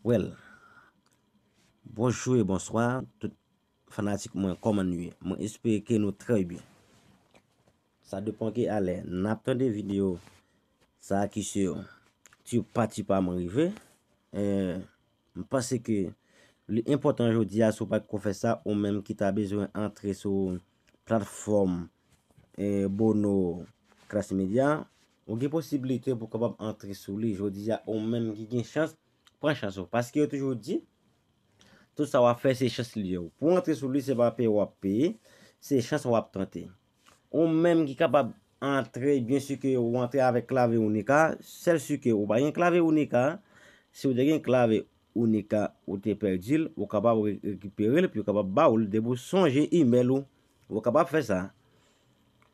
Well Bonjou e bonswa tout fanatik mwen koman nou ye mwen espere ke nou trè byen sa depan ki alè nap tande video sa ki se yo ti pa ti pa mwen rive mwen panse ke li enpotan jodi a sou pa ki kon fè sa ou menm ki ta bezwen antre sou platform bono kras media Ou gen posibilite pou kapab antre sou li jodi a ou menm ki gen chans pran chans ou paske yo toujou di tout sa wap fè se chans li ye ou pou antre sou li se pa peye wap peye se chans wap tante ou menm ki kapab antre byen si ke ou antre avèk klave ou nika sèl si ke ou pa gen klave ou nika si ou te gen klave ou nika ou te pèdi l ou kapab rekipere l epi yo kapab ba ou l depi ou sonje imèl ou ou kapab fè sa.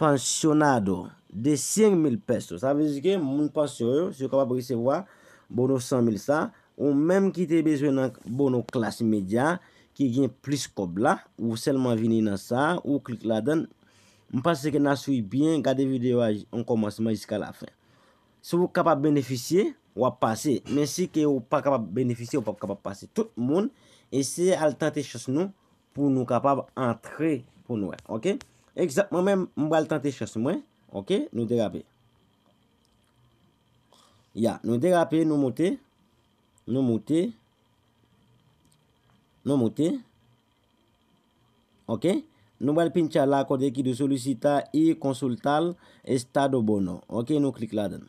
Pensionado de 100 mil pesos. Sa vle di ke moun pansyon yo, si yo kapab resevwa bono 100 mil sa, ou menm ki te bezwen nan bono klas medya, ki gen plis kòb la, ou sèlman vini nan sa, ou klik ladann. M panse ke nan swiv byen, gade videyo a an kòmansman jiska lafen. Si ou kapab benefisye, w ap pase. Men si ke ou pa kapab benefisye, ou p ap kapab pase. Tout moun eseye al tante chans nou Pou nou kapab antre pou nou wè. Ok. Ekzanp mwen menm m pral tante chans mwen. Ok. Nou derape. Ya. Nou derape. Nou moute. Nou moute. Nou moute. Ok. Nou pral pincha la kote ki di solisita e konsultal estado bono. Ok. Nou klik la dan.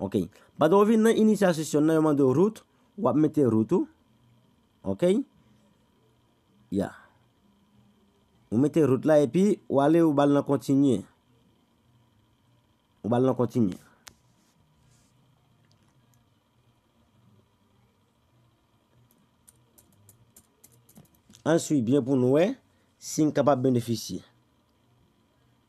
Ok. Pandan ou vin nan initial session nan yo mande ou root, wap mete root ou. Ok. Ya. Ou mete root la epi ou ale ou bal nan continue. Ou bal nan continue. An swi byen pou nou wè si n kapab benefisye.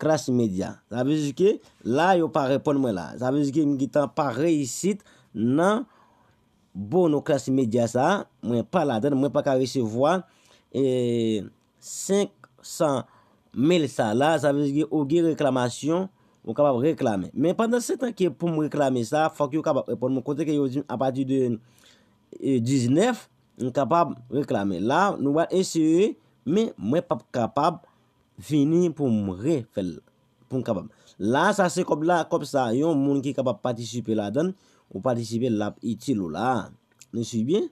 Klass imedya. Sa vle di ke la yo pa reponn mwen la. Sa vle di ke m gentan pa reyisit nan bono klass imedya sa a. Mwen pa ladann. Mwen pa ka resevwa 500 mil sa la. Sa vle di ke ou gen reklamasyon ou kapab reklame. Men pandan se tan ke pou m reklame sa a, fòk yo kapab reponn mwen kote ke yo di m apati de 19 m kapab reklame. La nou wè eseye men mwen pap kapab. Vini pou m re fè l pou m kapab. La sa se kòb la, kòb sa yon moun ki kapab patisipe ladann, ou patisipe l ap itil ou la. Nou swiv byen?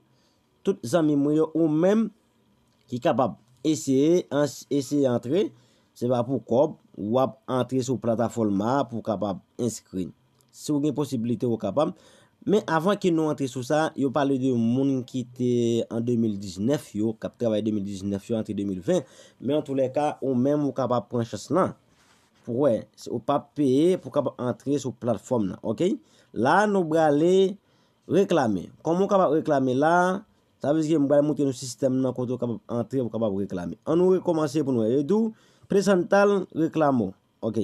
Tout zanmi mwen yo ou menm ki kapab eseye eseye antre, se pa pou kòb, w ap antre sou platafòlma pou kapab enskri. Si w gen posibilite ou kapab. Men avan ke nou antre sou sa, yo pale de moun ki te an 2019 yo, k ap travay 2019 yo antre 2020. Men an tou lè ka, ou menm ou kapab pran chans lan. Pou wè, si ou pa peye pou kab antre sou platfòm nan. Ok? La nou brale reklame. Kòman ou kapab reklame la? Sa vle di ke m bal moutre nou sistèm nan kote ou kapab antre pou kapab reklame. An nou rekòmanse pou nou wè. Yo di w, presantal reklamo. Ok.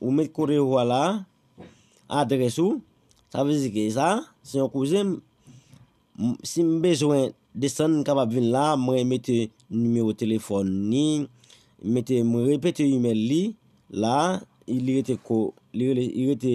Ou met kote ou a la a, adrès ou, sa vle di ke sa a, se yon kouzen m, si m bezwen desann m kapab vin la a, mwen mete nimewo telefòn ni, m mete, m repete imèl li la a, li rete ko, li rete.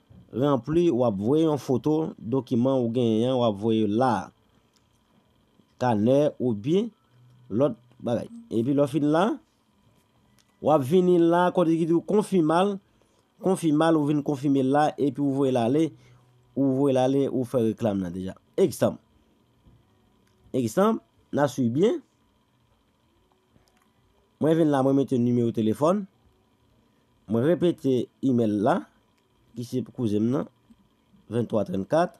Ranpli w ap voye yon foto dokiman ou genyen an w ap voye l la a, kanè oubyen lòt bagay. Epi lè w fin la, w ap vini la kote ki di w konfima l, konfima l ou vin konfime l la epi ou voye l ale, ou voye l ale ou fè reklam nan deja. Egzanp, egzanp, n a swiv byen? Mwen vin la mwen mete nimewo telefòn. Mwen repete email la ki se pou kouzen m nan 23 34.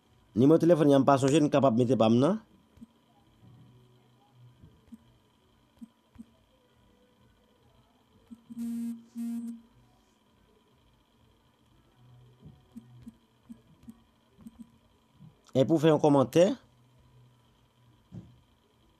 Nimewo telefòn li a m pa sonje n kapab mete pa m nan. Epi ou fè yon kòmantè.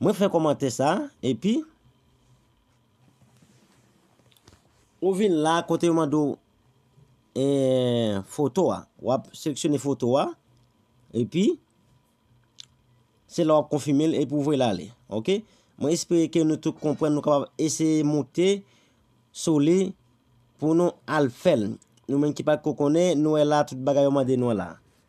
Mwen fè kòmantè sa epi. Ou vin la kote yo mande w foto a. W ap seleksyone foto a. Epi. Se la w ap konfime l epi w voye l ale. Ok. Mwen espere ke nou tout konprann nou kapab eseye moute sou li pou nou al fè l. Nou menm ki pa t ko konnen nou wè la tout bagay yo mande nou la.